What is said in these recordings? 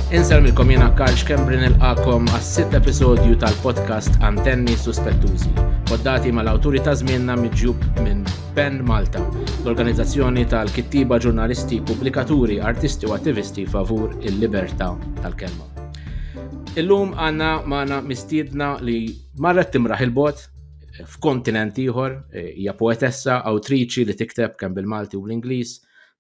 Inselmilkom jena Karl Xkembrin il-qakom għas-sitt episodju tal-podcast Antenni Suspettużi, poddati mal-awturi ta' żmienna miġjub minn Ben Malta, l-organizzazzjoni tal-kittiba ġurnalisti, pubblikaturi, artisti u attivisti favur il-libertà tal-kelma. Illum għanna maħna mistiedna li marret timraħ il-bot f'kontinent ieħor, eh, hija poetessa, awtriċi li tikteb kemm bil-Malti u l-Ingliż,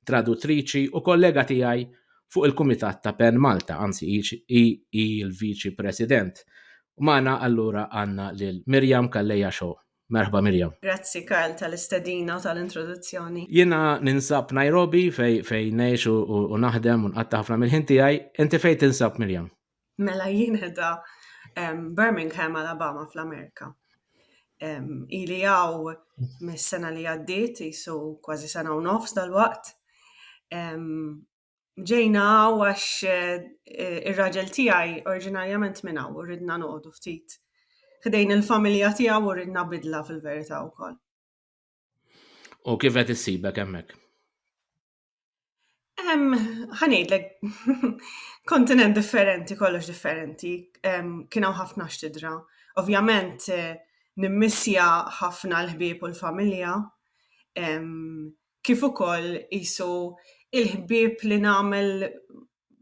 traduttriċi u kollega tiegħi fuq il-Kumitat ta' Pen Malta, anzi hi il-Viċi President. Mana allura għanna lil Mirjam Kalleja Xo. Merħba Mirjam. Grazzi Karl tal-istedina u tal-introduzzjoni. Jiena ninsab Nairobi fej fej u naħdem u nqatta ħafna mill-ħin tiegħi, inti fej tinsab Mirjam? Mela jien edha Birmingham, Alabama fl-Amerika. Ili għaw mis-sena li għaddiet, jisu kważi sena u nofs dal-waqt. Ġejna għaw għax eh, ir-raġel tijaj oriġinarjament minn għaw, ridna noqdu ftit. Ħdejn il-familja tijaw u ridna bidla fil-verita u koll. U kif qed issibek hemmhekk? Ħanejdlek, kontinent differenti, kollox differenti, kien hawn ħafna x'tidra. Ovvjament eh, nimmissja ħafna l-ħbieb u l-familja, kif ukoll isu il-ħbieb li nagħmel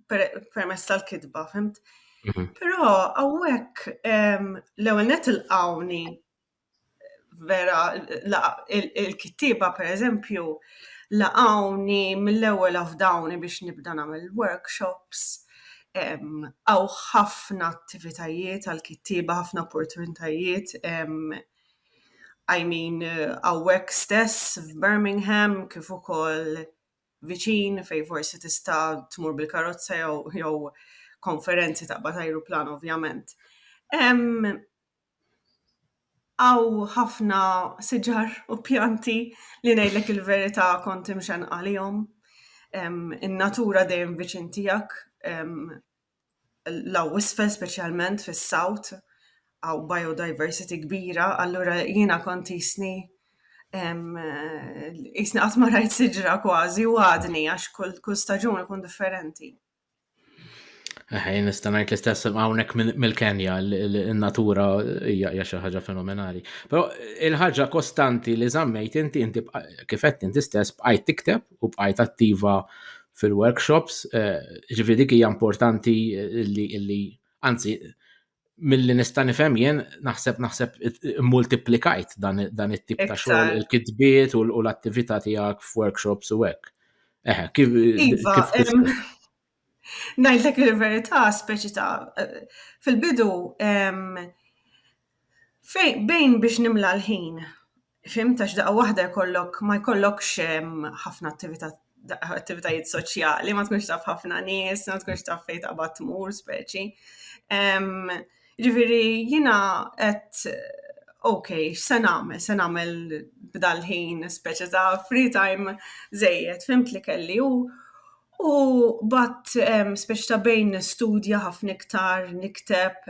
permess tal-kitba, fimt? Mhm. Però hawnhekk l-ewwel net il-qawni vera il-kittieba pereżempju laqgħuni mill-ewwel afdawni biex nibda nagħmel workshops, hawn ħafna attivitajiet għall-kittieba, ħafna opportunitajiet, I mean hawnhekk stess f'Birmingham kif ukoll viċin fejn forsi tista' tmur bil-karozza jew konferenzi taqbad ajruplan ovvjament. Hawn ħafna siġar u pjanti li ngħidlek il-verità kont imxennqa għalihom. In-natura dejjem viċin tiegħek, l-hawn isfel speċjalment fis-south, hawn biodiversity kbira, allura jiena kont qisni qisni qatt ma rajt siġra kważi u għadni għax kull staġun ikun differenti. Eħe, nista' ngħid l-istess hawnhekk mill-Kenja, in-natura hija xi ħaġa fenomenali. Però il-ħaġa kostanti li żammejt inti inti kif qed inti stess bqajt tikteb u bqajt attiva fil-workshops, eh, ġifieri dik hija importanti li anzi milli nista' nifhem jien naħseb naħseb multiplikajt dan it-tip ta' xogħol il-kitbiet u l-attività tiegħek f'workshops u hekk. Eh, kif iva, Ngħidlek il-verità speċi ta' fil-bidu fejn bejn biex nimla l-ħin Fimt għax daqqa waħda jkollok ma jkollokx ħafna attività attivitajiet soċjali, ma tkunx taf ħafna nies, ma tkunx taf fejn taqbad tmur speċi. Ġifieri jiena qed ok, x'se nagħmel, se nagħmel b'dal-ħin speċi ta' free time żejjed, fimt li kelli u u bat speċi ta' bejn nistudja ħafna iktar, nikteb,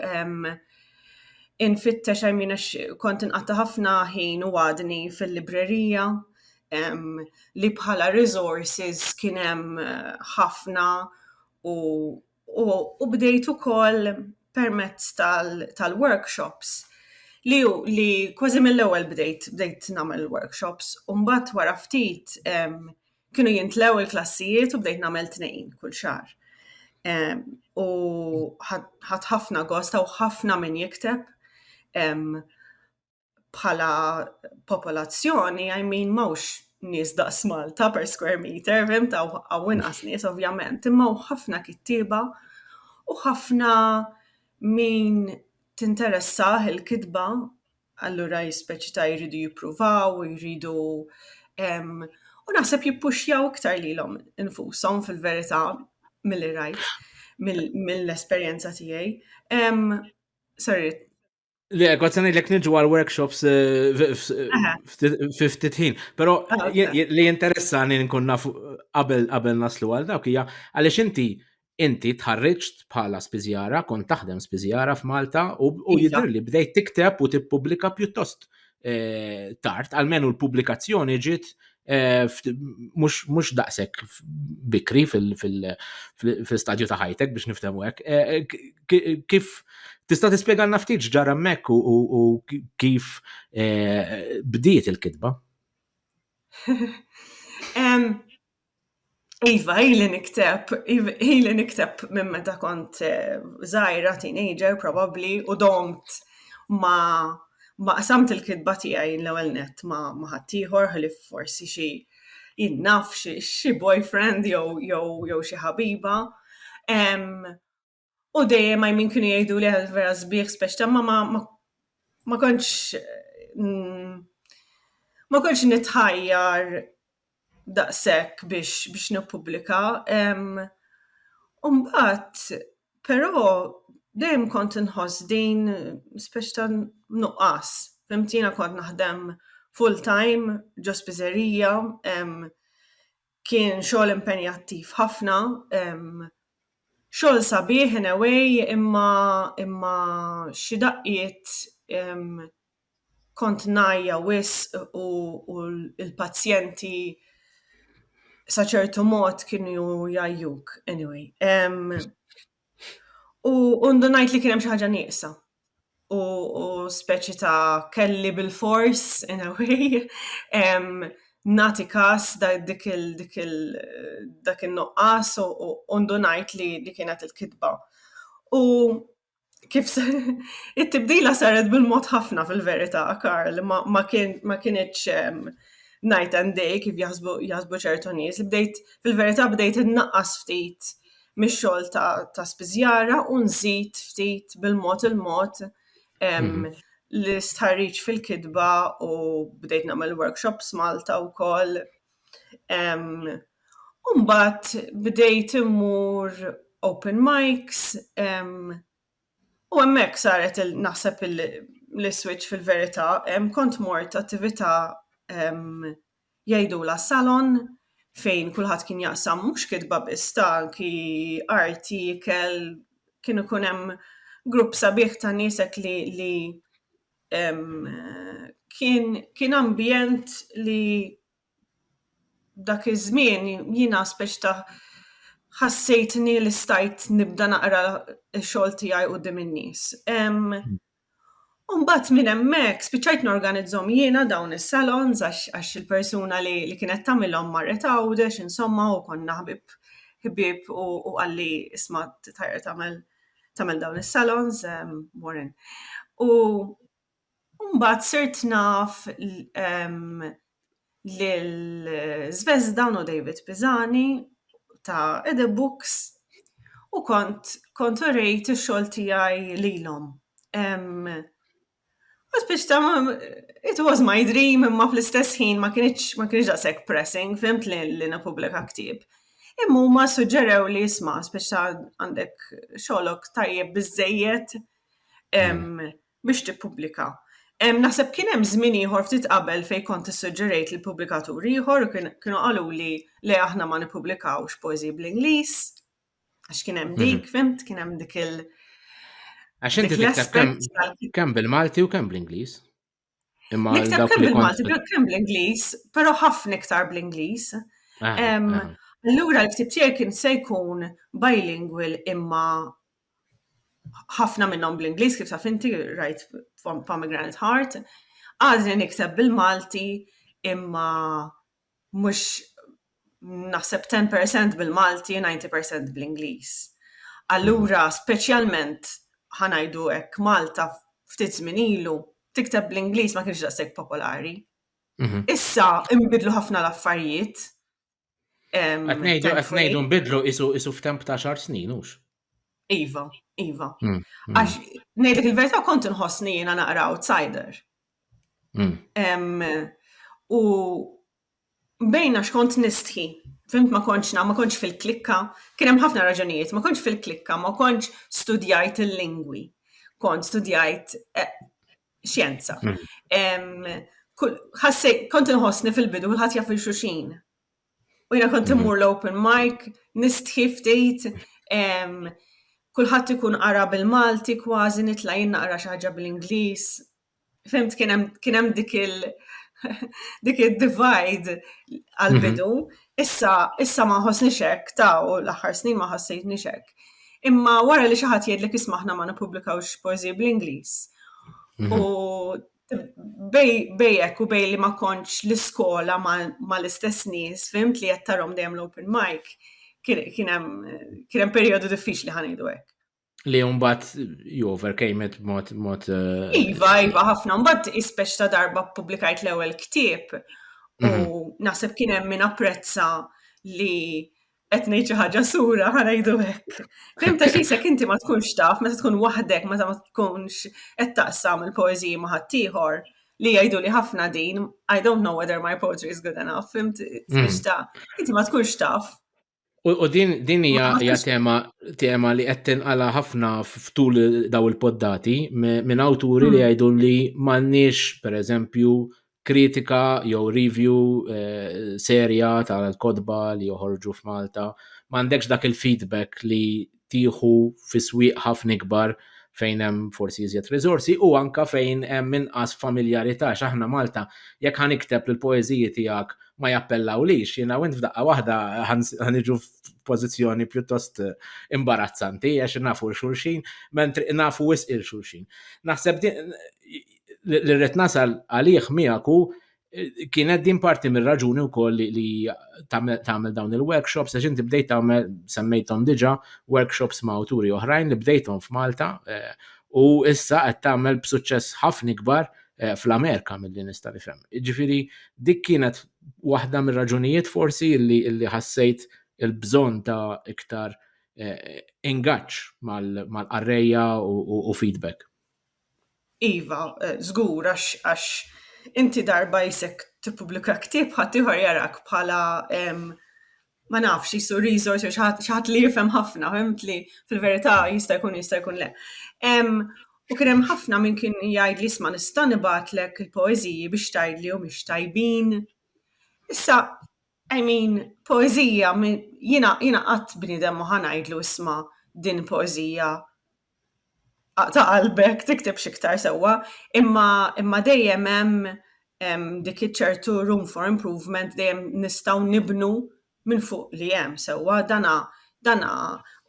infittex I mean għax kont inqatta' ħafna ħin u għadni fil-librerija li bħala resources kien hemm ħafna u u bdejt ukoll permezz tal-workshops li li kważi mill-ewwel bdejt bdejt nagħmel workshops u mbagħad wara ftit Kienu jintlew il-klassijiet u bdejt nagħmel tnejn kull xahar. U ħadd ħafna gosta u ħafna min jikteb bħala popolazzjoni, I mean, mawx nis daqs Malta per square meter, vim ta' għawin għas nis, ovvjament, imma u ħafna kittiba u ħafna min tinteressaħ il-kitba allura jispeċita jridu jippruvaw, jridu u naħseb jippuxjaw iktar lilhom infushom fil-verità milli rajt mill-esperjenza tiegħi. Sorry. Le, għad sanaj l-ek nġu għal-workshops eh, fi ftit ħin, pero ah, li interessani nkun naf qabel naslu għal dawk hija għaliex inti inti tħarriġt bħala spiżjara, kont taħdem spiżjara f'Malta u iva. jidher li bdejt tikteb u tippubblika pjuttost eh, tard, għalmenu l-pubblikazzjoni ġiet eh, mhux daqshekk bikri fil-stadju ta' ħajtek biex niftehmu hekk. Eh, kif tista' tispjegalna ftit ġara hemmhekk u kif bdiet il-kitba? Iva, ili nikteb, ili nikteb minn meta kont zaħira, eh, teenager, probabli, u domt ma ma qasamt il-kitba tiegħi l-ewwel net ma ma ħaddieħor ħli forsi xi jinnaf xi boyfriend jew jew xi ħabiba. U dejjem għaj min kienu jgħidu li għal vera zbieħ speċta ma ma ma konċ mm, ma konċ nitħajjar daqsek biex biex nipublika. Umbat, pero dejjem kont nħoss din speċta nuqqas. Femtina kont naħdem full time ġo spizzerija, Kien xogħol impenjattiv ħafna, xogħol sabiħ in a way imma imma xi daqqiet kont ngħajja wisq u l-pazjenti sa ċertu mod kienu jgħajjuk, any way. U ndunajt li kien hemm xi ħaġa nieqsa. U speċi ta' kelli bil-fors, in a way, nagħti kas dik il dak in-nuqqas u ndunajt li li kienet il-kitba. U kif se it-tibdila saret bil-mod ħafna fil-verità, Karl, ma ma kien ma kinitx night and day kif jaħsbu jaħsbu ċertu nies, bdejt fil-verità bdejt innaqqas ftit mix-xogħol ta', ta spiżjara u nżid ftit bil-mod il-mod mhm. l-istħarriġ fil-kitba u bdejt nagħmel workshops Malta wkoll. Umbat bdejt immur open mics u hemmhekk saret naħseb il- l-switch fil-verità, kont mort attività jgħidulha salon fejn kulħadd kien jaqsam mhux kitba biss ta' anki arti, ikel, kien ikun hemm grupp sabiħ ta' nies hekk li li kien kien ambjent li dak iż-żmien jiena speċi ta' ħassejtni li stajt nibda naqra x-xogħol tiegħi quddiem in-nies. U mbagħad minn hemmhekk spiċċajt norganizzhom jiena dawn is-salons għax il-persuna li kienet tagħmilhom marret Għawdex insomma u konna ħbieb ħbieb u qalli isma' tajjeb tagħmel tagħmel dawn is-salons Warren. U mbagħad sirt naf lil Zvezda u David Pisani ta' Ede Books u kont kont urejt ix-xogħol tiegħi lilhom. It was my dream imma fl-istess ħin ma kinitx ma kinitx daqshekk pressing fimt li li nippubblika ktieb. Imma huma suġġerewli isma' spiċċa għandek xogħlok tajjeb biżżejjed biex tippubblika. Hemm, naħseb kien hemm żmien ieħor ftit qabel fejn kont issuġġerejt lil pubblikatur ieħor u kienu qaluli le aħna ma nippubblikawx poeżiji bl-Ingliż għax kien hemm mhm. dik, fimt, kien hemm dik il- Għax inti tikteb kemm bil-Malti u kemm bl-Ingliż. Imma nikteb kemm bil-Malti, kemm bl-Ingliż, però ħafna iktar bl-Ingliż. Ah, ah. Allura l-ktib tiegħi kien se jkun bilingual imma ħafna minnhom bl-Ingliż kif taf inti rajt Pomegranate Heart, għadni nikteb bil-Malti imma mhux naħseb 10% bil-Malti, 90% bl-Ingliż. Allura speċjalment ħa ngħidu hekk Malta ftit żmien ilu tikteb bl-Ingliż ma kienx daqshekk popolari. Mhm. Issa inbidlu ħafna l-affarijiet Qed ngħidu qed ngħidu nbidlu isu isu f'temp ta' xar snin hux. Iva, iva. Hmm, hmm. Għax ngħidlek il-verità kont inħossni jiena naqra outsider. Hmm. U bejna x'kont nistħi, fimt ma konċ ma konċ fil-klikka, kien hemm ħafna raġunijiet, ma konċ fil-klikka, ma konċ studjajt il-lingwi, kont studjajt eh, xjenza. Mm. Ħasse, kont nħossni fil-bidu, kullħat jaf il-xuxin. U jina kont mm-hmm. immur l-open mic, nistħi ftit, kullħat ikun qara bil-Malti kważi nitla jinna qara xaħġa bil-Inglis. Fimt kienem dik il- dik il-divide għal-bidu. Mm-hmm. Issa, issa ma nħossnix hekk, ta, u l-aħħar snin ma ħassejtnix hekk. Imma wara li xi ħadd jgħidlek isma' aħna ma nippubblikawx poeżiji bl-Ingliż. Mhm. U bej hekk u bej li ma kontx l-iskola ma l-istess nies, fimt li qed tarhom dejjem l-open mic, kien hemm perjodu diffiċli ħanejdu hekk. Li mbagħad you overcame it mod mod. Eh, iva, iva, ħafna mbagħad ispeċ ta' darba publikajt l-ewwel ktieb u mhm. naħseb kien hemm min apprezza li qed ngħid xi ħaġa sura ħanajdu hekk. Fim ta' xi sek inti ma tkunx taf meta tkun waħdek meta ma tkunx qed taqsam il-poeżiji ma' ħaddieħor li jgħidu li ħafna din, I don't know whether my poetry is good enough, fimt, mhm. ta' inti ma tkunx taf U din din hija hija tema tema li qed tinqala ħafna f'tul daw il-poddati minn awturi li hmm. jgħidu li m'għandniex pereżempju kritika jew review eh, serja tal-kodba li joħorġu f'Malta, m'għandekx dak il-feedback li tieħu fi swieq ħafna ikbar fejn hemm forsi iżjed riżorsi u anke fejn hemm inqas familjarità x'aħna Malta jekk ħa nikteb li l-poeżiji tiegħek ma jappellawlix jiena u int f'daqqa waħda ħa niġu f'pożizzjoni pjuttost imbarazzanti għax nafu l xulxin mentri nafu wisq il xulxin. Naħseb li rrid nasal għalih miegħek hu kienet din parti mir-raġuni wkoll li, li tagħmel dawn il-workshops għax inti bdejt tagħmel semmejthom diġà workshops ma' awturi oħrajn li bdejthom f'Malta eh, u issa qed tagħmel b'suċċess ħafna ikbar eh, fl-Amerika mill-li nista' nifhem. Ġifieri dik kienet waħda mir-raġunijiet forsi li, li ħassejt il-bżonn ta' iktar eh, ingaġġ mal-qarrejja u, u, u feedback. Iva, żgur, għax għax inti darba jisek tippubblika ktieb ħaddieħor jarak bħala ma nafx qisu resource jew xi ħadd xi ħadd li jifhem ħafna, fhimt li fil-verità jista' jkun jista' jkun le. U kien hemm ħafna min kien jgħidli isma' nista' nibgħatlek il-poeżiji biex tgħidli humiex tajbin. Issa, I mean, poeżija jiena jiena qatt bniedem ma ħa ngħidlu isma' din poeżija ta' qalbek tiktibx iktar sewwa, imma imma dejjem hemm dik iċ-ċertu room for improvement dejjem nistgħu nibnu minn fuq li hemm sewwa dana dana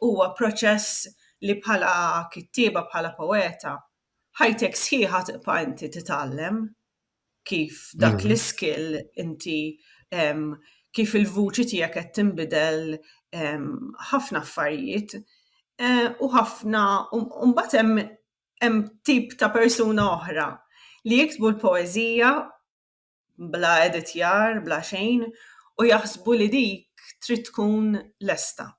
huwa proċess li bħala kittieba bħala poeta ħajtek sħiħa tibqa' inti titgħallem. kif dak mm. l-iskill inti um, kif il-vuċi tiegħek qed tinbidel ħafna affarijiet eh, u ħafna mbagħad hemm hemm tip ta' persuna oħra li jiktbu l-poeżija bla editjar, bla xejn, u jaħsbu li dik trid tkun lesta.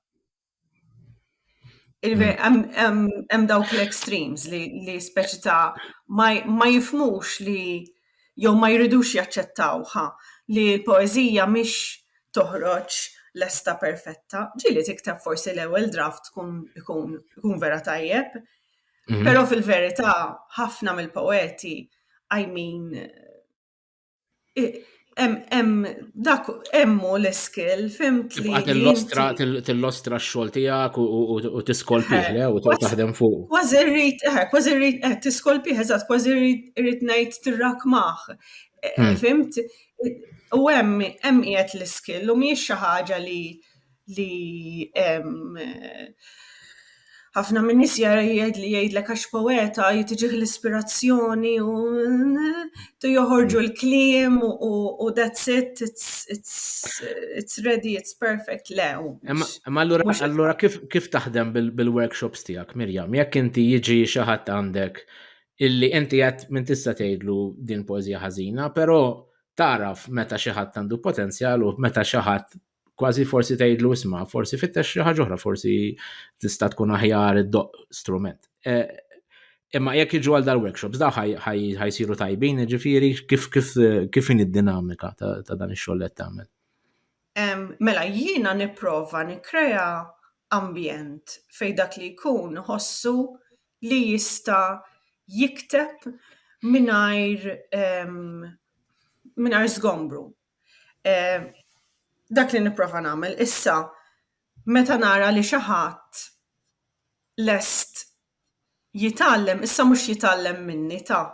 Hemm dawk l-extremes li speċi ta' ma jifmux li jew ma jridux jaċċettawha li l-poeżija mhix toħroġ lesta perfetta. Ġieli tikteb forsi l-ewwel draft tkun ikun vera tajjeb. Mhm. Però fil-verità ħafna mill-poeti I mean Hemm dak hemmu l-iskill, fimt li. Tillostra tillostra x-xogħol tiegħek u tiskolpih le u taħdem fuq. Kważi rrid, eh, kważi rrid, eh, tiskolpih eżatt, kważi rrid ngħid tirrakmah. Eh, hmm. Fimt? U hemm hemm qiegħed l-iskill u mhijiex xi ħaġa li li ħafna minn nies jgħid li jgħidlek għax poeta jitiġih l-ispirazzjoni u tu joħorġu l-kliem u that's it, it's ready, it's perfect, le. Ma allura kif taħdem bil-workshops tiegħek, Mirjam, jekk inti jiġi xi ħadd għandek illi inti għed minn tista' tgħidlu din poezija ħażina, però taraf meta xi ħadd għandu potenzjal u meta xi ħadd kważi forsi tgħidlu isma' forsi fittex xi ħaġa oħra, forsi tista' tkun aħjar id-doq strument. E, imma jekk jiġu għal dal-workshops, da ħajsiru tajbin, ġifiri kif kif kif in id-dinamika ta' dan ix-xogħol qed tagħmel. Mela jiena nipprova nikkrea ambjent fej dak li jkun ħossu li jista' jikteb mingħajr mingħajr żgombru. Dak li nipprova nagħmel issa meta nara li xi ħadd lest jitgħallem, issa mhux jitgħallem minni ta',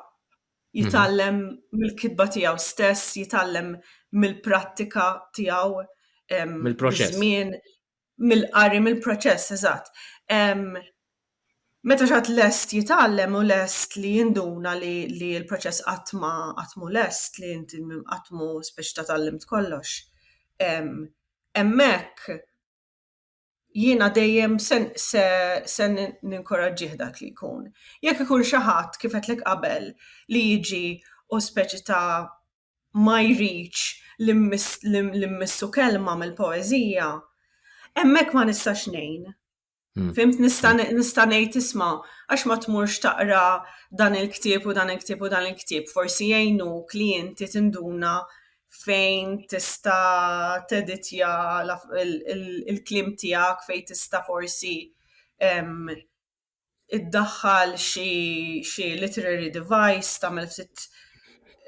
jitgħallem mill-kitba tiegħu stess, jitgħallem mill-prattika tiegħu, mill-proċess, miż-żmien, Mill-qari, mill-proċess, eżatt. Meta xi ħadd lest jitgħallem u lest li jinduna li li l-proċess qatt ma qatt mhu lest, li inti qatt mhu spiċ ta' tgħallimt kollox. Hemmhekk jiena dejjem se se se ninkoraġġih dak li jkun. Jekk ikun xi ħadd, kif għedtlek qabel, li jiġi u speċi ta' ma jridx li mmissu kelma mill-poeżija, hemmhekk ma nistax ngħin. Hmm. Fimt nista' ngħid isma' għax ma tmurx taqra dan il-ktieb u dan il-ktieb u dan il-ktieb, forsi jgħinu klienti tinduna fejn tista' teditja il-klim tiegħek fejn tista' forsi iddaħħal xi xi literary device, tagħmel ftit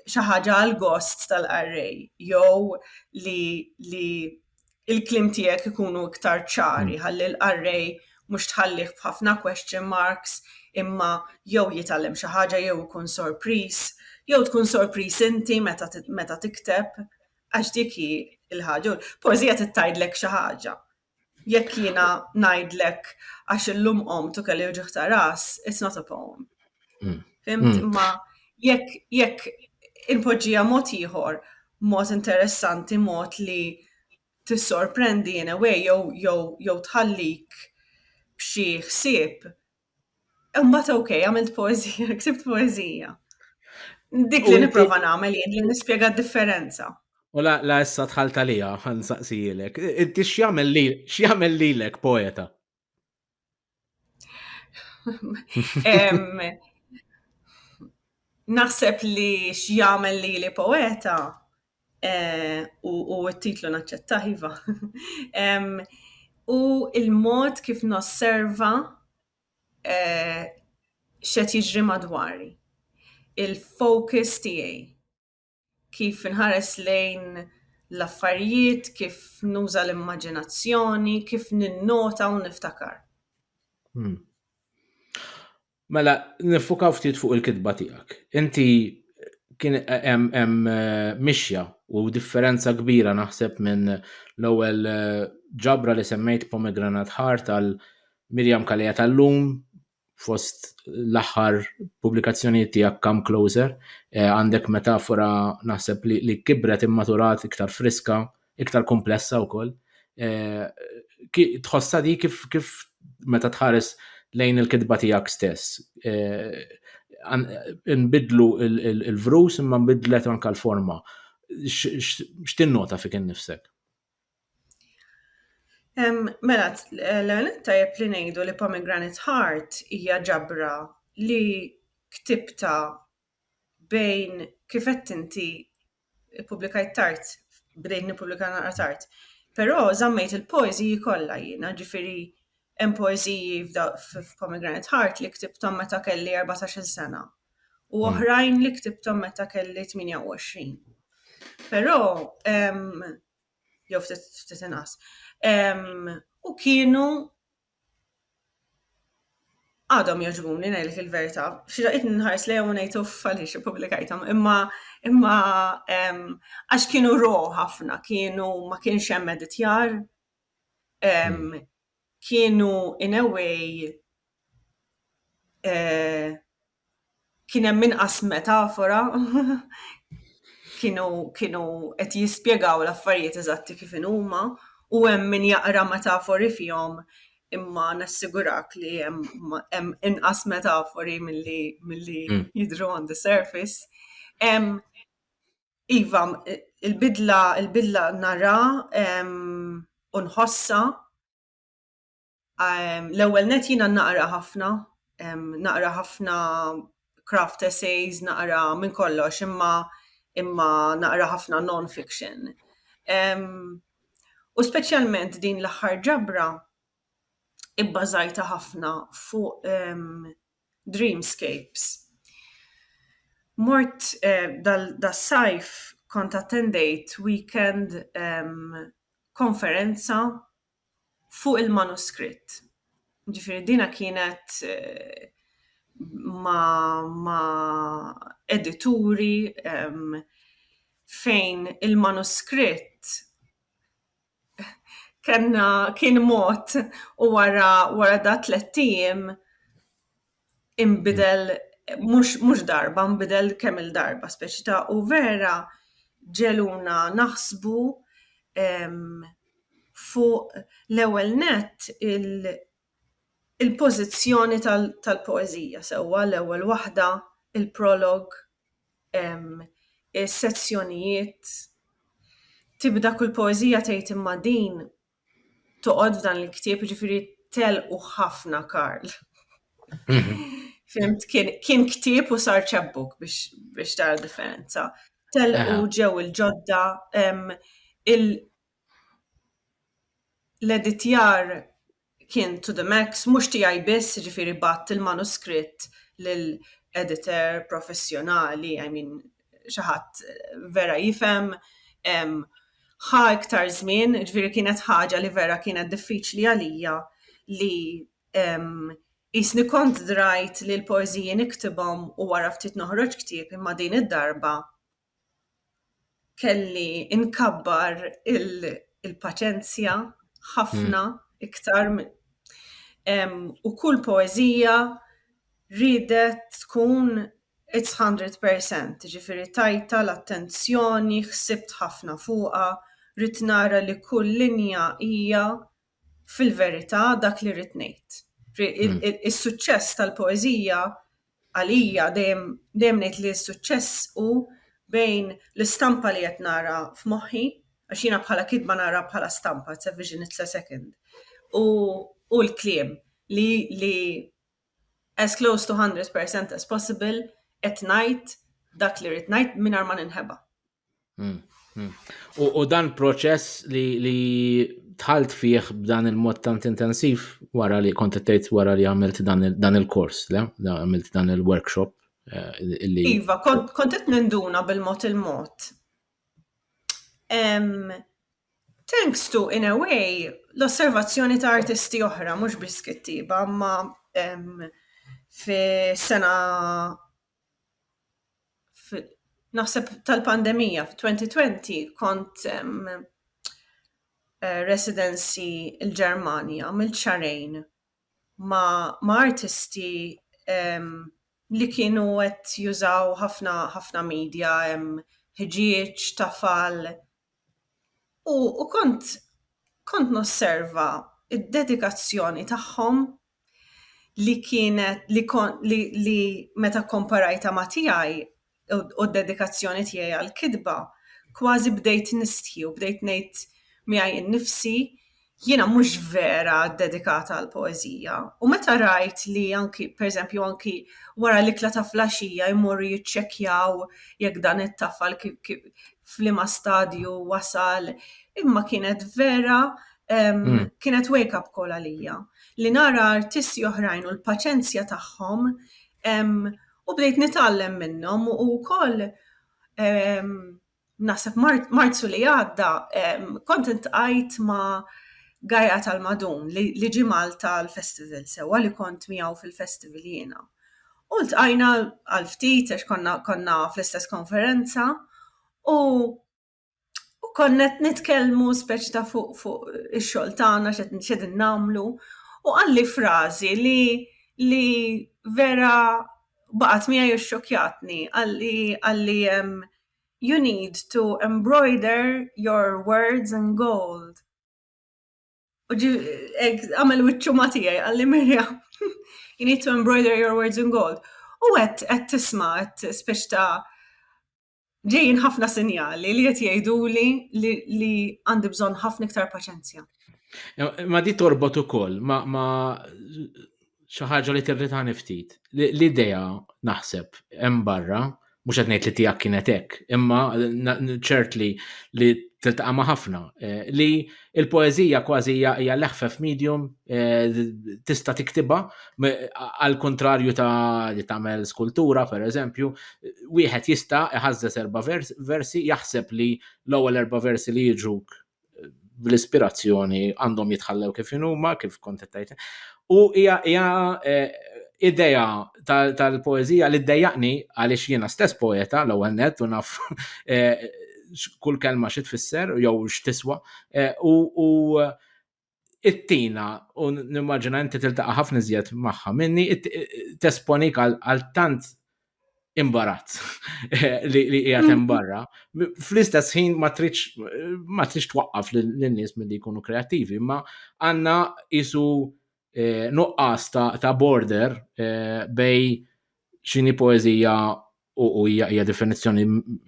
xi ħaġa għal gost tal-qarrej jew li li il-kliem tiegħek ikunu iktar ċari hmm. ħalli l-qarrej mhux tħallih b'ħafna question marks imma jew jitgħallem xi ħaġa jew ikun sorpriż, jew tkun sorpriż inti meta meta tikteb għax dik hi l-ħaġa. Poeżija titgħidlek xi ħaġa. Jekk jiena ngħidlek għax illum qomt u kelli wġieħ ta' ras, it's not a poem. Mm. Fimt? Mm. Ma jekk jekk inpoġġija mod ieħor, mod interessanti, mod li tissorprendi in a way jew jew jew tħallik b'xi ħsieb Imbagħad ok, għamilt poezija, ksibt poezija. Dik li nipprova nagħmel jien li nispjega d-differenza. U la la issa tħalt għalija ħan saqsijilek. Inti x'jagħmel li x'jagħmel lilek poeta? Naħseb li x'jagħmel li li poeta Eh, u t-titlu naċċetta, iva. U il-mod kif nosserva eh, xed jiġri madwari. Il-focus tiegħi. Kif inħares lejn l-affarijiet, kif nuża l-immaġinazzjoni, kif ninnota u niftakar. Hmm. Mela, nifukaw ftit fuq il-kitba tiegħek. Inti kien hemm hemm eh, mixja u differenza kbira naħseb minn l-ewwel eh, ġabra li semmejt pomegranat ħar tal Mirjam Kalea tal-lum fost l-aħħar pubblikazzjonijiet tiegħek Come Closer eh, għandek metafora naħseb li, li kibret immaturat iktar friska iktar komplessa wkoll. Eh, tħossha di kif kif meta tħares lejn il-kitba tiegħek stess. Eh, nbidlu il-vrus imma nbidlet anka l-forma. X'tinnota fik innifsek? Mela, l-għanet tajab li nejdu li Pomegranate Heart hija ġabra li ktibta bejn kif għedt inti ppubblikajt tard, bdejt nippubblika naqra tard, però żammejt il-poeżiji kollha jiena, ġifieri hemm poeżiji f'Pomegranate Heart li ktibthom meta kelli erbatax-il sena u oħrajn li ktibthom meta kelli tmienja u għoxrin. Però jew ftit inqas. U kienu għadhom jogħġbuni ngħidlek il-verità. Xi daqqiet nħares lejhom u ngħid uff għaliex ippubblikajthom, imma imma għax kienu ro ħafna, kienu ma kienx hemm editjar, kienu in a way e, kien hemm inqas metafora, kienu kienu qed jispjegaw l-affarijiet eżatti kif inhuma u hemm min jaqra metafori fihom imma nassigurak li hemm hemm inqas metafori milli milli hmm. jidhru on the surface. Hemm iva il-bidla il-bidla nara u nħossha Ehm, l-ewwel net jiena naqra ħafna, ehm, naqra ħafna craft essays, naqra minn kollox, imma imma naqra ħafna non-fiction. Ehm, u speċjalment din l-aħħar ġabra ibbażajta ħafna fuq dreamscapes. Mort eh, dal-sajf kont attendejt weekend konferenza fuq il-manuskritt. Ġifieri dina kienet ma' edituri fejn il-manuskritt kellna kien mod u wara dak tlett ijiem imbidel mhux darba, imbidel kemm il-darba speċi ta' u vera ġeluna naħsbu fuq l-ewwel nett il-pożizzjoni tal-poeżija sewwa l-ewwel waħda, il-prolog, is-sezzjonijiet, tibda kull poeżija tgħid imma din toqgħod f'dan il-ktieb, jiġifieri telqu ħafna Karl. Mhm. Fimt, kien ktieb u sar ċebbuk biex tara differenza. Telqu ġew il-ġodda l-editjar kien to the max, mhux tiegħi biss, ġifieri batt il-manuskritt lill-editor professjonali, I mean, xi ħadd vera jifhem ħa iktar żmien, ġifieri kienet ħaġa li vera kienet diffiċli għalija li qisni kont drajt li l-poeżiji niktibhom u wara ftit noħroġ ktieb imma din id-darba kelli nkabbar il-paċenzja ħafna iktar u kull poeżija riedet tkun It's hundred per cent, jiġifieri tajtha l-attenzjoni, ħsibt ħafna fuqha, ridt nara li kull linja hija fil-verità dak li rrid ngħid. Is-suċċess tal-poeżija għalija dejjem dejjem ngħid li s-suċċess hu bejn l-istampa li qed nara f'moħħi, għax jiena bħala kitba naraha bħala stampa, it's a vision, it's a second, u l-kliem li li as close to hundred percent as possible qed ngħid dak li rrid ngħid mingħajr ma ninħeba. Hmm, hmm. U dan proċess li tħalt fih b'dan il-mod tant intensiv wara li kont tgħid wara li għamilt dan il-kors, le? Għamilt dan il-workshop eh, li. Iva, kont qed ninduna bil-mod il-mod. Thanks to, in a way, l-osservazzjoni ta' artisti oħra, mhux biss kittieba, imma fis-sena naħseb tal-pandemija fit-2020 kont residency il-Ġermanja, għamilt xahrejn ma' artisti li kienu qed jużaw ħafna ħafna media, ħġieġ, tafal, U, u kont, kont nosserva id-dedikazzjoni tagħhom li kienet li kon, li, li meta komparajta ma' tiegħi u d-dedikazzjoni tiegħi għall-kitba, kważi bdejt nistħi u bdejt ngħid miegħi nnifsi, Jiena mhux vera ddedikata għall-poeżija u meta rajt li anki, per eżempju, anki wara l-ikla ta' flaxija jmorru jiċċekkjaw jekk dan it-tafal f'liema stadju wasal, imma kienet vera, kienet wake up call għalija. Li nara artisti oħrajn u l-paċenzja tagħhom u bdejt nitgħallem minnhom u wkoll, naħseb Marzu li għadda kont intqajt ma' Gaja tal-Madun li ġie Malta għall-festival sewwa li kont miegħu fil-festival jiena. U ltqajna għal ftit għax konna konna fl-istess konferenza u u konna qed nitkellmu speċi ta' fuq fuq ix-xogħol tagħna x'qegħdin nagħmlu u qalli frażi li li vera baqgħet miegħi u xxokjatni qalli qalli You need to embroider your words in gold. U ġi hekk għamel wiċċu ma' tiegħi qalli Mirja, you need to embroider your words in gold. U qed qed tisma' qed spiċċ ta' ġejjin ħafna sinjali li qed jgħiduli li għandi bżonn ħafna iktar paċenzja. Ma di torbot ukoll ma, ma xi ħaġa li tirritani ftit. L-idea naħseb hemm barra, mhux qed ngħid li tiegħek kienet hekk, imma ċert li li tiltaqa' ma' ħafna eh, li l-poeżija kważi hija l-eħfef medium eh, tista' tiktiba għal kontrarju ta' li tagħmel skultura pereżempju, wieħed jista' iħażżes erba' versi jaħseb li l-ewwel erba' versi li jiġuk bl-ispirazzjoni għandhom jitħallew kif huma, kif kont tajt. U hija eh, idea tal-poezija li ddejjaqni għaliex jiena stess poeta l-ewwel net u naf eh, kull kelma xi tfisser jew x'tiswa eh, u it-tina, u nimmaġina inti tiltaqa' ħafna iżjed magħha minni, tesponik għal tant imbarazz li qiegħed hemm barra. Fl-istess ħin ma tridx twaqqaf lin-nies milli jkunu kreattivi, imma għandna isu eh, nuqqas ta' border eh, bej xini poezija u hija hija definizzjoni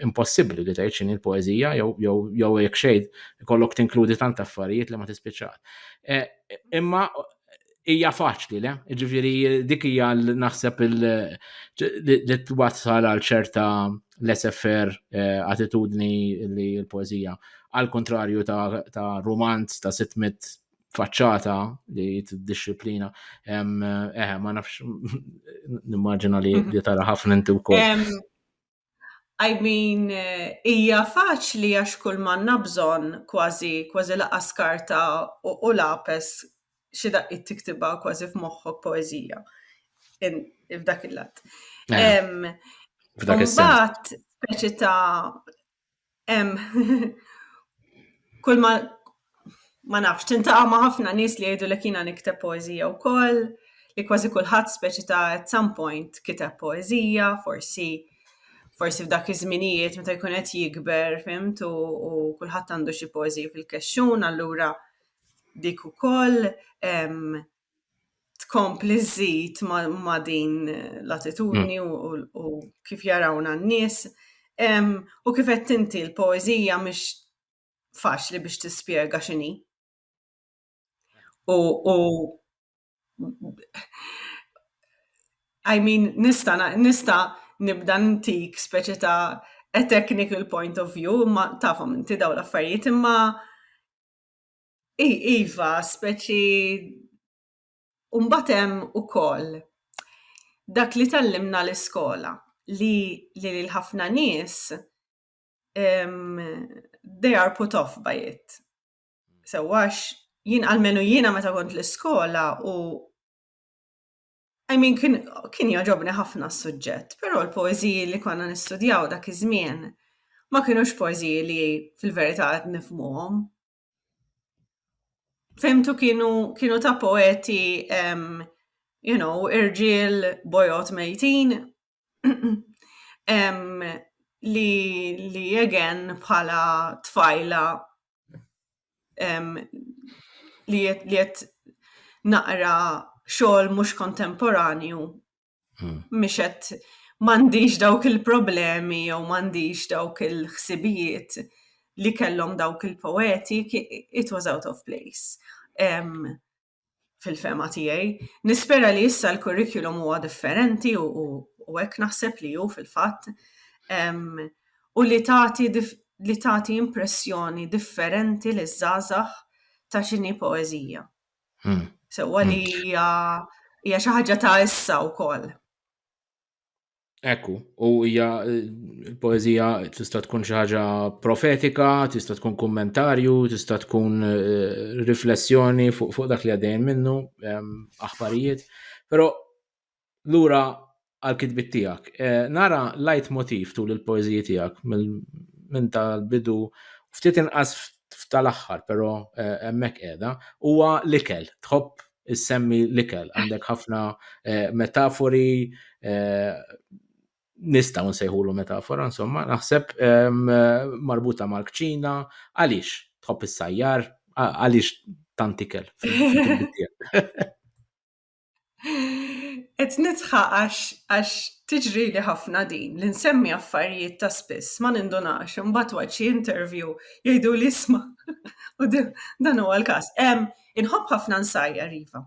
impossibbli li tgħid x'inhi l-poeżija jew jew jew jekk xejn ikollok tinkludi tant affarijiet li ma tispiċċax. E, imma hija faċli, le? Ġifieri dik hija naħseb li twassal għal ċerta l-SFR e, attitudni li l-poeżija għal kontrarju ta' romanz ta' 600 faċċata li t-disciplina. Eh, ma nafx, nimmaġina li mhm. tara ħafna inti wkoll. I mean, hija faċli għax kull manna bżon kważi kważi laqa skarta u lapes xi daqqit tiktibha kważi f'moħħok poeżija. F'dak il-lat. Eh, f'dak il-lat. Mbagħad speċi ta' kull ma ma nafx, tintaqa' ma' ħafna nies li jgħidu li kiena nikteb poeżija wkoll, li kważi kulħadd speċi ta' at some point kiteb poeżija, forsi forsi f'dak iż-żminijiet meta jkun qed jikber fimt u kulħadd għandu xi poeżiji fil-kexxun allura dik ukoll. tkompli żżid ma' din l-attitudni mm. u kif jarawna n-nies. U kif qed tinti l-poeżija mhix faċli biex tispjega x'inhi. U I mean, nista, nista nibda ntik speċi ta' a technical point of view, ma tafhom inti daw l-affarijiet imma Iva, speċi u mbagħad hemm ukoll dak li tgħallimna l-iskola li lil ħafna nies they are put off by it. Sewwa għax jien almenu jiena meta kont l-iskola u I mean kien jogħġobni ħafna s-suġġett, però l-poeżiji li konna nistudjaw dak iż-żmien ma kinux poeżiji li fil-verità qed nifhmuhom. Femtu kienu, kienu ta' poeti, um, you know, irġiel bojot mejtin, um, li, li again bħala tfajla um, li jett naqra xogħol mhux kontemporanju Hmm. Mhix qed m'għandix dawk il-problemi jew m'għandix dawk il-ħsibijiet li kellhom dawk il-poeti, it was out of place. Um, fil-fema tiegħi. Nispera li issa l-kurrikulum huwa differenti u hekk naħseb li hu fil-fatt u li tagħti li tagħti impressjoni differenti li żgħażagħ ta' xini poeżija. Hmm. Sewwa li hmm. hija hija xi ħaġa ta' issa wkoll. Ekku, u hija l-poeżija tista' tkun xi ħaġa profetika, tista' tkun kummentarju, tista' tkun eh, riflessjoni fuq dak li għaddejn minnu, ehm, aħbarijiet. Però lura għal-kitbit tiegħek. Eh, nara lajt motiv tul il-poeżiji tiegħek minn tal-bidu ftit inqas f'tal-aħħar, però eh, hemmhekk qiegħda, huwa l-ikel, tħobb issemmi l-ikel, għandek ħafna eh, metafori nistaw nsejħulu metafora, insomma, naħseb marbuta mal-kċina, għaliex tħobb is-sajjar, għaliex tantikel. Et nitħa għax tiġri li ħafna din, li nsemmi affarijiet ta' spiss, ma nindunax, imbagħad waqt xi interview jgħidu li isma' u dan huwa l-każ. Inħobb ħafna nsajjar iva.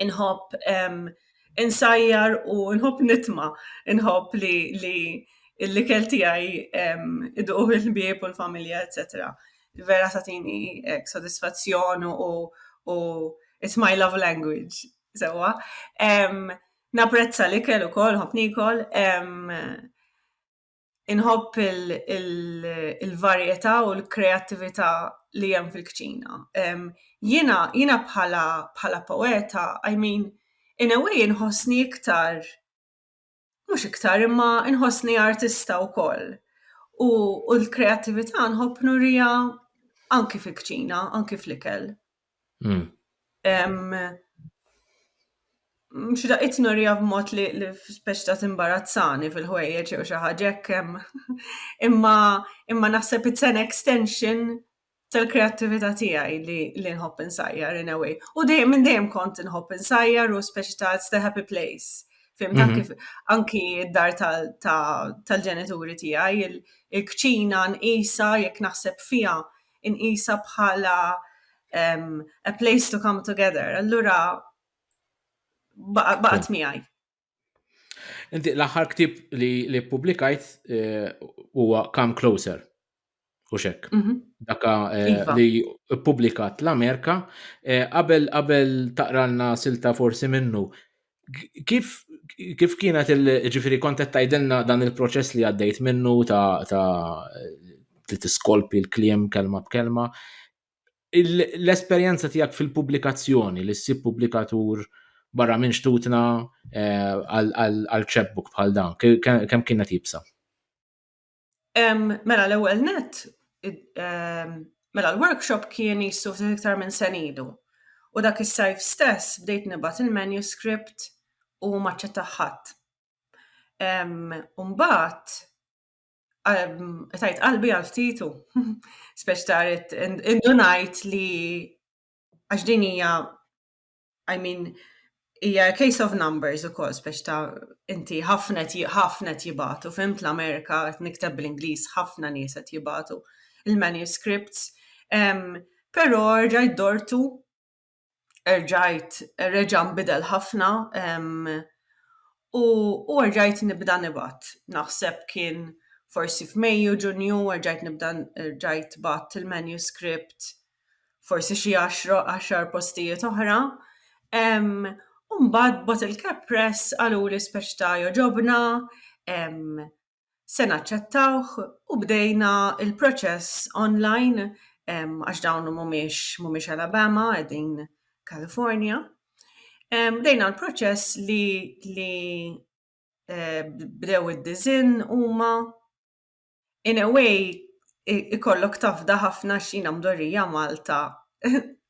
Inħobb insajjar u nħobb nitma, inħobb li li l-ikel tiegħi iduqu il-ħbieb u l-familja, etc. Vera tatini ek sodisfazzjon u u it's my love language sewwa. Naprezza l-ikel ukoll, nħobb nikol. Inħobb il-varjetà u l-kreattività li hemm fil-kċina. Jiena jiena bħala bħala poeta, I mean, in a way inħossni iktar Mhux iktar, imma nħossni artista wkoll. U l-kreattività nħobb nurija anki fil-kċina, anki fl-ikel. Hmm. Mhux da qed nurija b'mod li speċi ta' timbarazzani fil-ħwejjeġ jew xi ħaġa hekk imma imma naħseb it's an extension tal-kreattività tiegħi li li nħobb insajjar in a way. U dejjem minn dejjem kont inħobb insajjar u speċi ta' it's the happy place. Fim ta' mhm. kif anki d-dar tal-ġenituri tiegħi il-kċina nqisa jekk naħseb fiha nqisa bħala a place to come together. Allura baqgħet miegħi. Inti l-aħħar ktib li li publikajt eh, huwa Come Closer. U xek. Mhm. Daka eh, Iva. li publikat l-Amerika eh, qabel qabel taqralna silta forsi minnu. K- Kif kif kienet il ġifiri kontet tajdilna dan il-proċess li għaddejt minnu ta' ta' li tiskolpi l-kliem kelma b'kelma. l-esperjenza tiegħek fil-pubblikazzjoni li ssib pubblikatur barra minn xtutna eh, għal ċebbuk bħal dan, kemm kienet jibsa? Mela l-ewwel net, mela l-workshop kien jissu iktar minn senidu. U dak is-sajf stess bdejt nibgħat il-manuscript u maċċetta ħadd. Umbagħad tajt qalbi għal ftitu, speċ taret indunajt li għax din hija, I mean, hija case of numbers u kol, speċ ta' inti ħafnet ħafnet jibatu, fimt l-Amerika, nikteb bl-Inglis, ħafna nieset jibatu il-manuscripts, pero rġajt dortu erġajt, reġa' nbidel ħafna u erġajt nibda nibgħat. Naħseb kien forsi f'Mejju, Ġunju, erġajt nibda, erġajt bgħatt il-manuscript forsi xi għaxra, għaxar postijiet oħra. U mbagħad Bottle Cap Press qaluli speċi ta' jogħġobna, se naċċettawh u bdejna l-proċess online għax dawn mhumiex mhumiex Alabama qegħdin California. Bdejna l-proċess li li eh, bdew id-dizin huma in a way ikollok tafda ħafna xina mdorrija Malta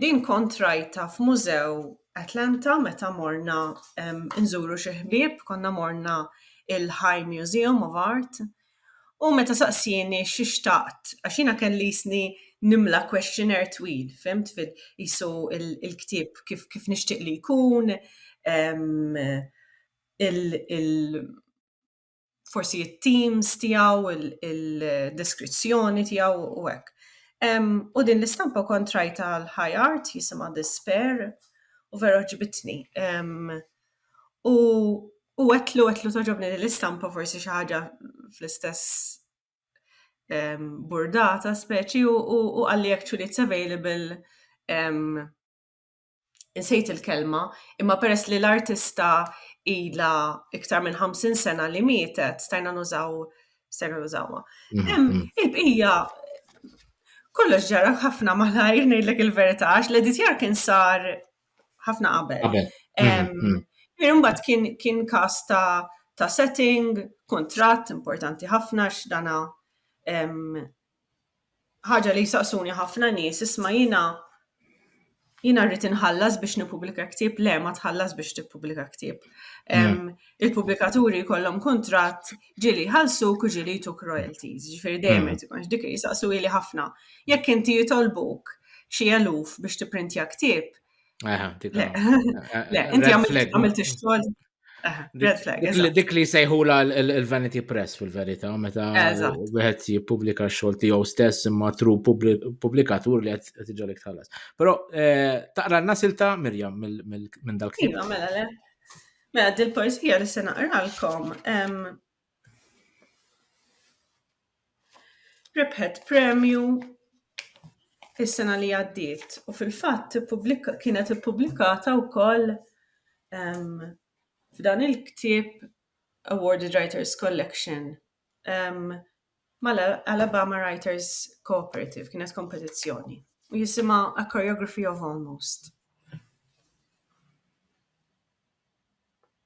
Din kont rajta f'mużew Atlanta meta morna nżuru xi ħbieb, konna morna il-High Museum of Art, u meta saqsieni xi xtaqt, għax jiena kelli jisni nimla questionnaire twil, fimt, qisu il-ktieb kif nixtieq li jkun, il-, forsi it-teams tiegħu, il-deskrizzjoni tiegħu u hekk. U din l-istampa kont rajta l-high art jisimha Despair u vera ġibitni. U u għetlu għetlu toġobni l-istampa forsi xi ħaġa fl-istess burdata speċi u għalli actually it's available insejt il-kelma, imma peress li l-artista ila iktar minn 50 sena li mietet, stajna nużaw, stajna nużawha. Mhm. Il-bqija kollox ġara ħafna malajr ngħidlek il-verità għax l-editjar kien sar ħafna qabel. Mhm, Imbagħad kien kien każ ta' ta' setting, kuntratt importanti ħafna x'dana ħaġa li jsaqsuni ħafna nies, isma' jiena jiena rrid inħallas biex nippubblika ktieb, le ma tħallas biex tippubblika ktieb. Hmm. Il-pubblikaturi jkollhom kuntratt ġieli ħalsuk u ġieli jtuk royalties, ġifieri dejjem hmm. irid dik jisaqsu li ħafna. Jekk inti jitolbuk xi eluf biex tipprintja ktieb, Le, eh, eh, inti għamilt ix-xogħol. Dik li sejħula l-Vanity Press fil-verita, meta wieħed jippubblika xogħol tiegħu stess imma tru pubblikatur li qed iġolek tħallas. Però eh, taqra nasilta Mirjam minn dal-ktieb. Iva, mela le. Mela dil-poesija li se naqralkom Rebħet premju is-sena li għaddiet u fil-fatt kienet ippubblikata wkoll f'dan il-ktieb Awarded Writers Collection mal-Alabama Writers Cooperative, kienet kompetizzjoni, u jisimha A Choreography of Almost.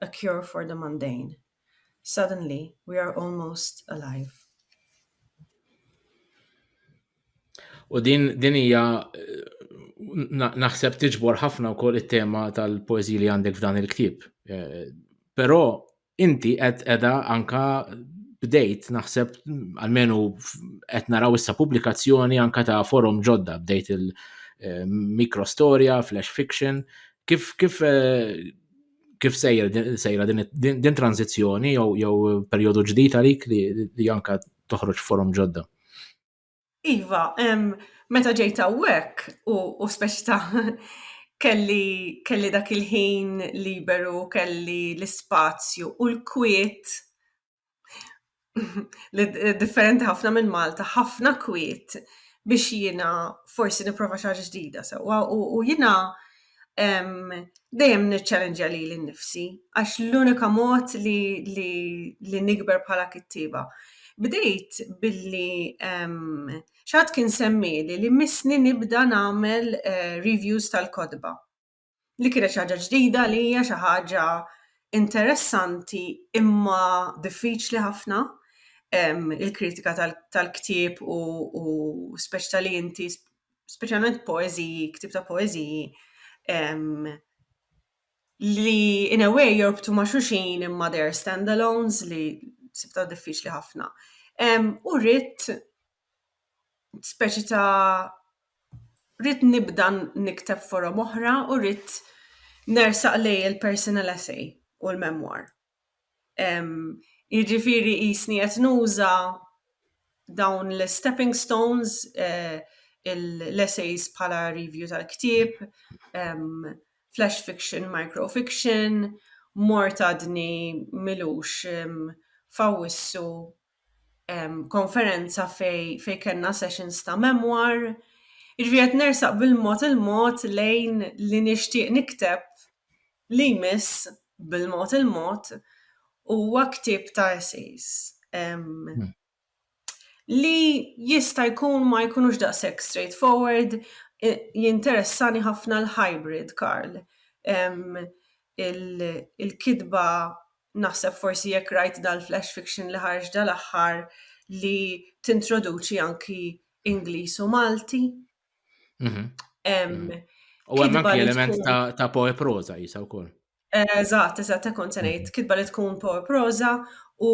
A cure for the mundane, Suddenly we are almost alive. U din din hija naħseb tiġbor ħafna wkoll it-tema tal-poeżi li għandek f'dan il-ktieb. Eh, però inti qed qiegħda anka bdejt naħseb għalmenu qed naraw issa pubblikazzjoni anka ta' forum ġodda bdejt il-mikrostorja, eh, flash fiction, kif kif eh, kif sejjer sejra din tranzizzjoni jew jew perjodu ġdid għalik li, li anka toħroġ forum ġodda. Iva, meta ġejt hawnhekk u, u speċta kelli, kelli dak il-ħin liberu, kelli l-ispazju u l-kwiet li differenti ħafna minn Malta, ħafna kwiet biex jiena forsi nipprova xi ħaġa ġdida sewwa u jiena dejjem niċċallenġja lili nnifsi għax l-unika mod li li li nikber bħala kittieba. Bdejt billi xi ħadd kien semmieli li missni nibda nagħmel reviews tal-kotba. li kienet xi ħaġa ġdida għalija, xi ħaġa interessanti imma diffiċli ħafna il-kritika tal-ktieb u speċi tal-li inti speċjalment poeziji, ktieb ta' poeziji li in a way jorbtu ma' xuxin imma they're stand-alones li sibta diffiċli ħafna. U rrit speċi ta' rrid nibda nikteb forom oħra u rrid nersaq lejn il-personal essay u l-memoir. Jiġifieri qisni qed nuża dawn l-istepping stones, l-essays bħala review tal-ktieb, flash fiction, micro fiction, mort għadni m'ilux f'Awwissu. konferenza fej, fej kena sessions ta' memoir, irvijet nersaq bil-mod il-mod lejn li nishtiq nikteb li jmiss bil-mod il-mod u għaktib ta' essays. Hmm. Li jista' jkun ma jkunux daqshekk straightforward, jinteressani ħafna l-hybrid, Karl. Il-kitba naħseb forsi jekk rajt dal-flash fiction li ħarġ dal-aħħar li tintroduċi anki Ingliż u Malti. Mhm. Mhm. U hemm anki element ta' poe proza jisa wkoll. Eżatt, eżatt, kont se ngħid, mhm. kitba li tkun poe proza u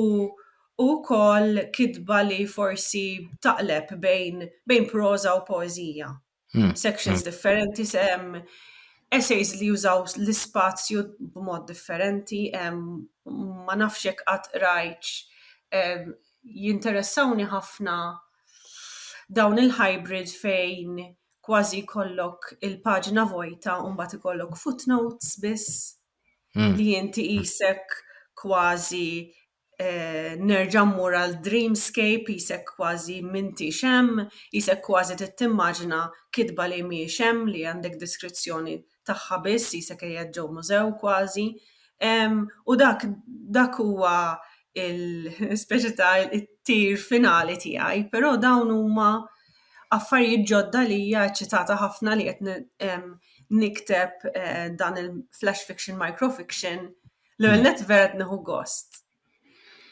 u kol kitba li forsi taqleb bejn, bejn proza u poezija. Hmm. sections hmm. differenti, se hemm essays li jużaw l-ispazju b'mod differenti, ma nafx jekk qatt rajċ jinteressawni ħafna dawn il-hybrid fejn kważi kollok il-paġna vojta u mbagħad ikollok footnotes biss hmm. li inti isek kważi nerġa' mmur għal dreamscape jisek kważi m'intix hemm, jisek kważi trid timmaġina kitba li mhijiex hemm li għandek deskrizzjoni tagħha biss jisek qiegħed ġew mużew kważi. U dak dak huwa l-speċi ta' it-tir finali tiegħi però dawn huma affarijiet ġodda għalija eċċitata ħafna li qed nikteb dan il-flash fiction micro fiction L-ewwel net vera qed nieħu gost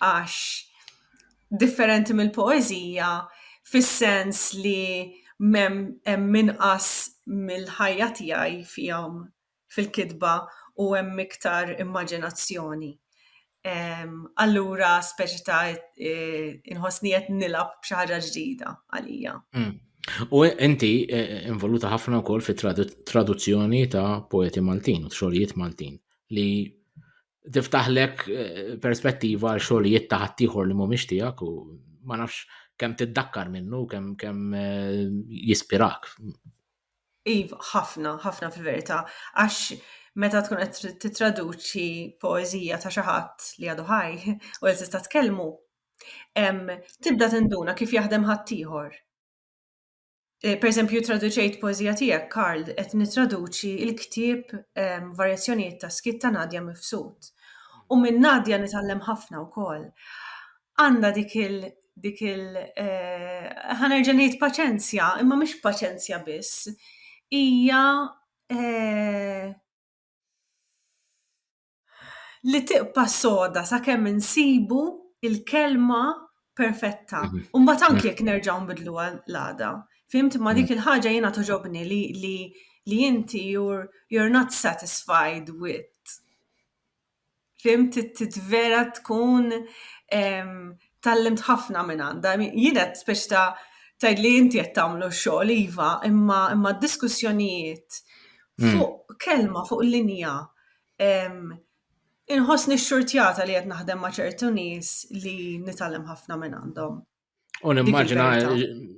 għax differenti mill-poeżija fis-sens li mem hemm inqas mill-ħajja tiegħi fihom fil-kitba u hemm iktar immaġinazzjoni. Allura speċi ta' inħossni qed nilgħab b'xi ħaġa ġdida għalija. Hmm. U inti eh, involuta ħafna wkoll fit-traduzzjoni ta' poeti Maltin u xogħlijiet Maltin. li tiftaħlek eh, perspettiva għal xogħlijiet ta' ħaddieħor li mhumiex tiegħek u ma nafx kemm tiddakkar minnu, kemm kemm eh, jispirak. Iv, ħafna, ħafna fil-verità, għax meta tkun qed titraduċi poeżija ta' xi ħadd li għadu ħaj u qed tista' tkellmu, tibda tinduna kif jaħdem ħaddieħor. Eh, per eżempju, traduċejt poezija tiegħek, Karl, qed nitraduċi il-ktieb ehm, Varjazzjonijiet ta' skit ta' Nadja Mifsud. U minn Nadja nitgħallem ħafna wkoll. Għandha dik il- dik il eh, ħanerġa' ngħid paċenzja, imma mhix paċenzja biss. Hija eh, li tiqpa soda sakemm insibu il-kelma perfetta. Mhm. U mbagħad anke jekk nerġgħu nbidlu l-għada. Fimt ma dik mhm. il-ħaġa jiena toġobni li li li inti you're, you're not satisfied with. Fimt vera tkun tallimt ħafna minn għandha. Jiena speċi ta' tajd li inti qed tagħmlu xogħol iva, imma imma diskussjonijiet mm. fuq kelma fuq linja Inħossni xxurtjata li qed naħdem ma' ċertu nies li nitgħallem ħafna minn għandhom. U nimmaġina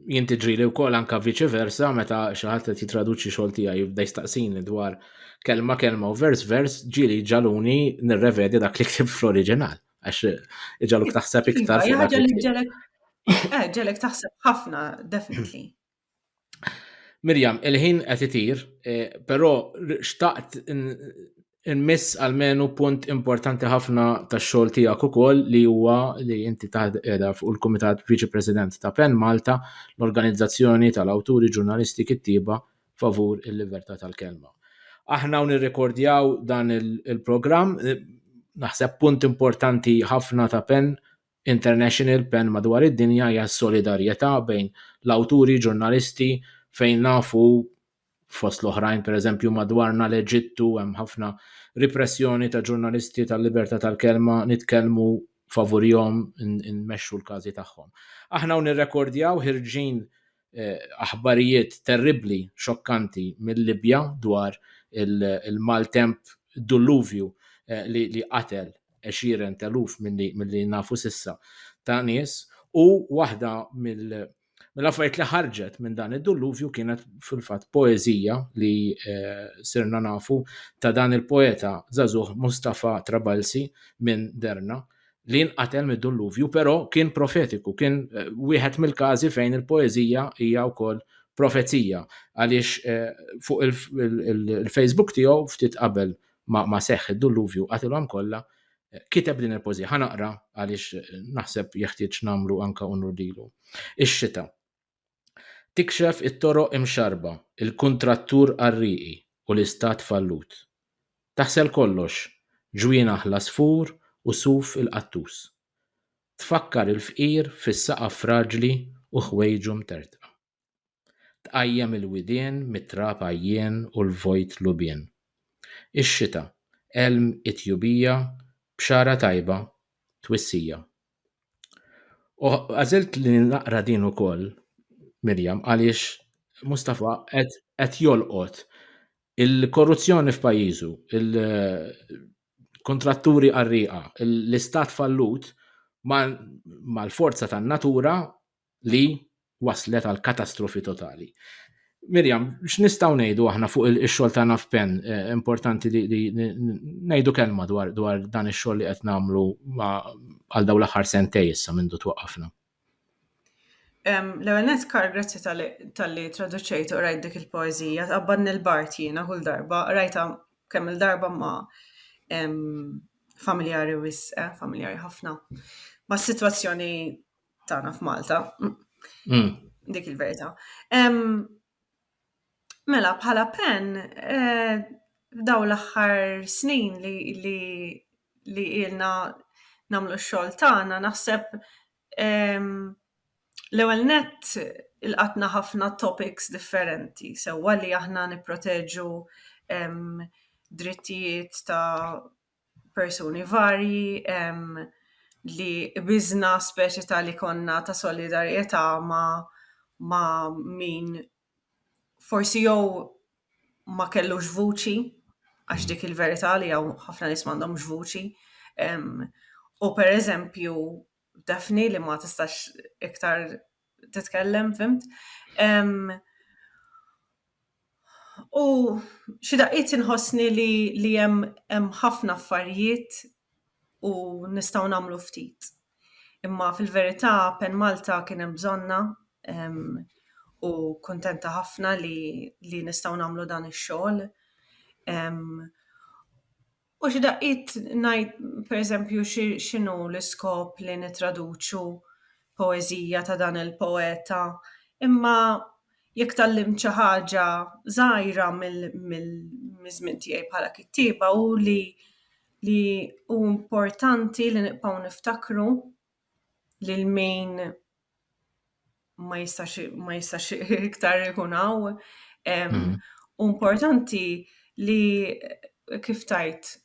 jinti ġrili u kol anka viċi versa meta xaħat li titraduċi xol tija jibda jistaqsini dwar kelma kelma u vers vers ġili ġaluni nirrevedi dak li ktib fl-oriġinal. Għax ġaluk taħseb iva, iktar. Ġalek eh, ġalek taħseb ħafna, definitely. Mirjam, il-ħin qed itir, eh, però xtaqt nmiss għalmenu punt importanti ħafna tax-xogħol tiegħek ukoll li huwa li inti taħdem fuq il-Kumitat Viċi President ta' Pen Malta, l-organizzazzjoni tal-awturi ġurnalisti kittieba favur il-libertà tal-kelma. Aħna u nirrekordjaw dan il-programm, eh, naħseb punt importanti ħafna ta' Pen International Pen madwar id-dinja hija s-solidarjetà bejn l-awturi, ġurnalisti, fejn nafu fost l-oħrajn pereżempju madwarna l-Eġittu hemm ħafna ripressjoni ta' ġurnalisti tal-libertà tal-kelma nitkellmu favurihom inmexxu l-każi tagħhom. Aħna hawn nirrekordjaw ħirġin aħbarijiet terribbli, xokkanti mill-Libja dwar il-maltemp dulluvju li qatel għexieren t'eluf milli nafu s'issa ta' nies u waħda mill-affarijiet li ħarġet minn dan id-dulluvju kienet fil-fatt poeżija li sirna nafu ta' dan il-poeta żagħżugħ Mustapha Trabelsi minn Derna. li nqatel mid-dulluvju, però kien profetiku, kien eh, wieħed mill-każi fejn il-poeżija hija wkoll profezija għaliex eh, fuq il-Facebook tiegħu ftit qabel ma seħħ id-dulluvju qatilhom kollha eh, kiteb din il-pożija ħanaqra għaliex naħseb jeħtieġ nagħmlu anka unur lilu. Ix-xita. Tikxef it-toroq imxarrba, il-kuntrattur qarrieqi u l-Istat fallut. Taħsel kollox, ġwien aħla sfur u suf il-qattus. Tfakkar il-fqir fis-saqaf fraġli u ħwejġu mtertqa. Tqajjem il-widien mit-trab għajjien u l-vojt lubien. Ix-xita, elm it-tjubija, bxara tajba, twissija. U għażilt li naqra din ukoll, Mirjam, għaliex Mustafa qed jolqot il-korruzzjoni f'pajjiżu, il-kontratturi qarrieqa, l-istat fallut mal-forza tan-natura li waslet għal katastrofi totali. Mirjam, x'nistgħu ngħidu aħna fuq il-xogħol tagħna f'pen eh, importanti li ngħidu kelma dwar dwar dan ix-xogħol li qed nagħmlu għal dawn l-aħħar sentej issa minn twaqqafna. L-ewwel net kar grazzi tal-li traduċejt u rajt dik il-poeżija tqabbad nil-bart jiena kull darba rajta kemm il-darba ma familjari wisq, eh, familjari ħafna. Ma situazzjoni tagħna f'Malta. Mm. Dik il-verità. Mela bħala pen eh, daw l-aħħar snin li li li ilna namlu x-xogħol tagħna naħseb l-ewwel net il-qatna ħafna topics differenti, sewwa li aħna nipproteġu drittijiet ta' persuni varji li qbiżna speċi ta' li konna ta' solidarjetà ma' ma' min forsi jew ma kellux vuċi, għax dik il-verità li hawn ħafna nies m'għandhomx vuċi, u pereżempju Daphne li ma tistax iktar titkellem, fimt. U xi daqqiet inħossni li li hemm ħafna affarijiet u nistgħu nagħmlu ftit. Imma fil-verità Pen Malta kien hemm bżonnha u kuntenta ħafna li nistgħu nagħmlu dan ix-xogħol. U xi daqqiet ngħid, pereżempju, x'inhu l-iskop li nittraduċu poeżija ta' dan il-poeta, imma jekk tgħallimt xi ħaġa żgħira miż-żmien tiegħi bħala kittieba hu li li hu importanti li nibqgħu niftakru lil min ma jistax ma jistax iktar ikun hawn. Mhm. Importanti li kif tajt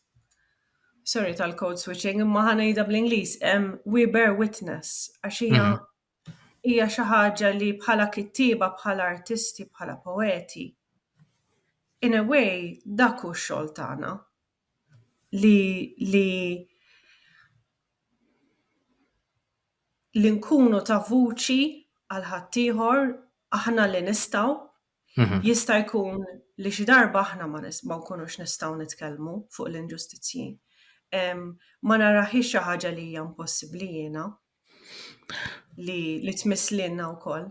sorry tal-code switching, imma ħanejda bl-Ingliż, we bear witness, għax hija mhm. hija xi ħaġa li bħala kittieba, bħala artisti, bħala poeti. In a way, dak hu x-xogħol tagħna. li li li nkunu ta' vuċi għal ħaddieħor aħna li nistgħu mhm. jista' jkun li xi darba aħna ma nkunux nistgħu nitkellmu fuq l-inġustizzji. Ma naraħi xi ħaġa li hija impossibbli jiena li li tmisslilna wkoll.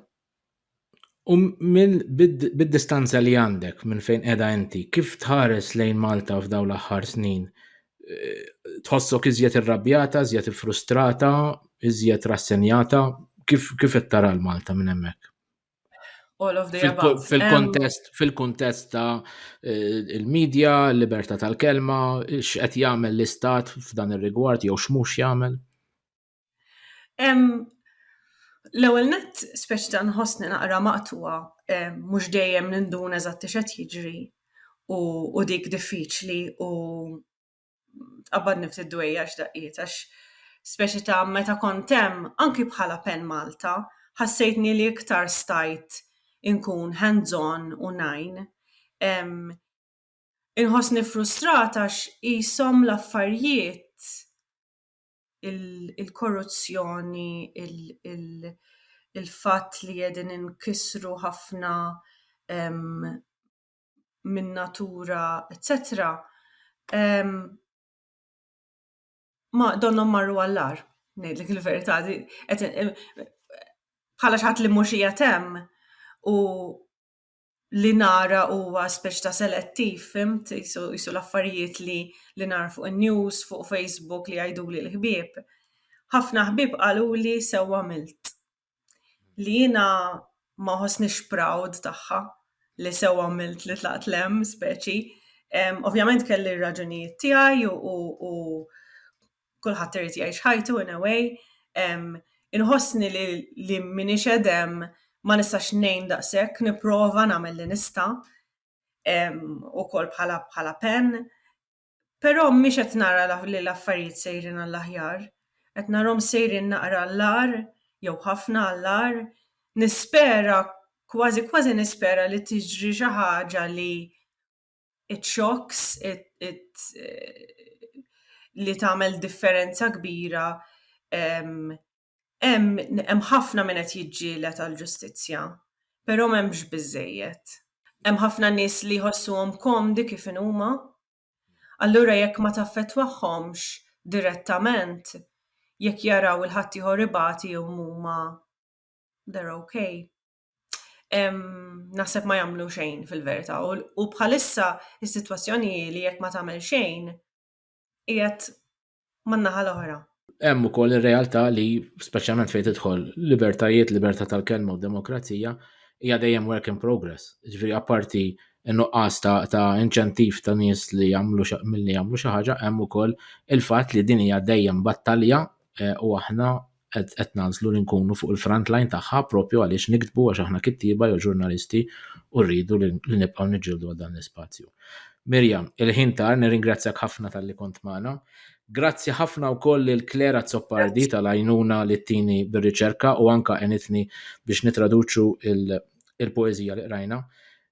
U minn bid-distanza li għandek minn fejn qiegħda inti, kif tħares lejn Malta f'dawn l-aħħar snin? Eh, tħossok iżjed irrabjata, iżjed frustrata, iżjed rassenjata? Kif kif qed tara l-Malta minn hemmhekk? All of the above. Fil-kontest fil-kontest ta' eh, il-medja, l-libertà tal-kelma, x'qed jagħmel l-istat f'dan ir-rigward jew x'mhux jagħmel? L-ewwel nett, speċi ta' nħossni naqra maqtugħa, mhux dejjem ninduna eżatt x'qed jiġri u dik diffiċli u tqabbadni ftit dwejjaq x'daqqiet għax speċi ta' meta kont hemm, anki bħala pen Malta, ħassejtni li iktar stajt inkun hands on u ngħin. Inħossni frustrata għax qishom l-affarijiet il-korruzzjoni, il-fatt li qegħdin inkissru ħafna min-natura, eċċetera, donnhom marru għall-agħar, ngħidlek il-verità. Bħala xi ħadd li mhux qiegħed hemm u li nara huwa speċi ta' selettiv, fimt, jisu l-affarijiet li li nara fuq in-news, fuq Facebook li jgħiduli l-ħbieb. Ħafna ħbieb qaluli sew għamilt. Li jiena ma ħossnix proud tagħha li sew għamilt li tlaqt l-hemm speċi. Ovvjament kelli r-raġunijiet tiegħi u kulħadd irid jgħix ħajtu in a way. Inħossni li li minix edem ma nistax ngħin daqshekk, nipprova nagħmel li nista' ukoll bħala bħala pen. Però mhix qed nara li l-affarijiet sejrin għall-aħjar. Qed narhom sejrin naqra għall-agħar jew ħafna għall-agħar. Nispera, kważi kważi nispera li tiġri xi ħaġa li it-xokks li tagħmel differenza kbira hemm ħafna min qed jiġġieled għall-ġustizzja, però m'hemmx biżżejjed. Hemm ħafna nies li jħossuhom komdi kif inhuma, allura jekk ma taffettwahomx direttament, jekk jaraw 'il ħaddieħor ibati huma they're ok. naħseb ma jagħmlu xejn fil-verità u bħalissa is-sitwazzjoni li jekk ma tagħmel xejn qiegħed man-naħa l-oħra. Hemm ukoll ir-realtà li speċjalment fejn tidħol libertajiet, libertà tal-kelma u demokrazija hija dejjem work in progress. Ġifieri apparti nuqqas ta', ta inċentiv ta' nies li jagħmlu milli jagħmlu xi ħaġa hemm ukoll il-fatt li din hija dejjem battalja eh, u aħna qed nagħżlu li nkunu fuq il-front line tagħha propju għaliex niktbu għax aħna kittieba jew ġurnalisti u rridu li nibqgħu niġġieldu għal dan l-ispazju. Mirjam, il-ħin tar nirringrazzjak ħafna tal-li kont magħna. Grazzi ħafna wkoll lil Claire Azzopardi tal-għajnuna li tini bir-riċerka u anka enitni biex nitraduċu il-poeżija li qrajna.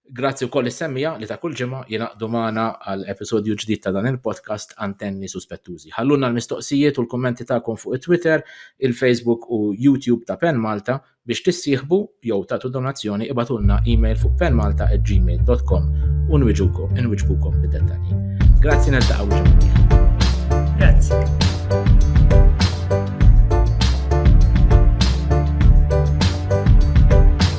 Grazzi wkoll lis-semmiegħa li ta' kull ġimgħa jingħaqdu magħna għal episodju ġdid ta' dan il-podcast Antenni Suspettużi. Ħallulna l-mistoqsijiet u l-kummenti tagħkom fuq it-Twitter, il-Facebook u YouTube ta' Pen Malta. Biex tissieħbu jew tagħtu donazzjoni ibagħtulna email fuq penmalta@gmail.com u nwiġukom inwiġbukom bid-dettalji. Grazzi niltaqgħu ġimgħa. Grazzi.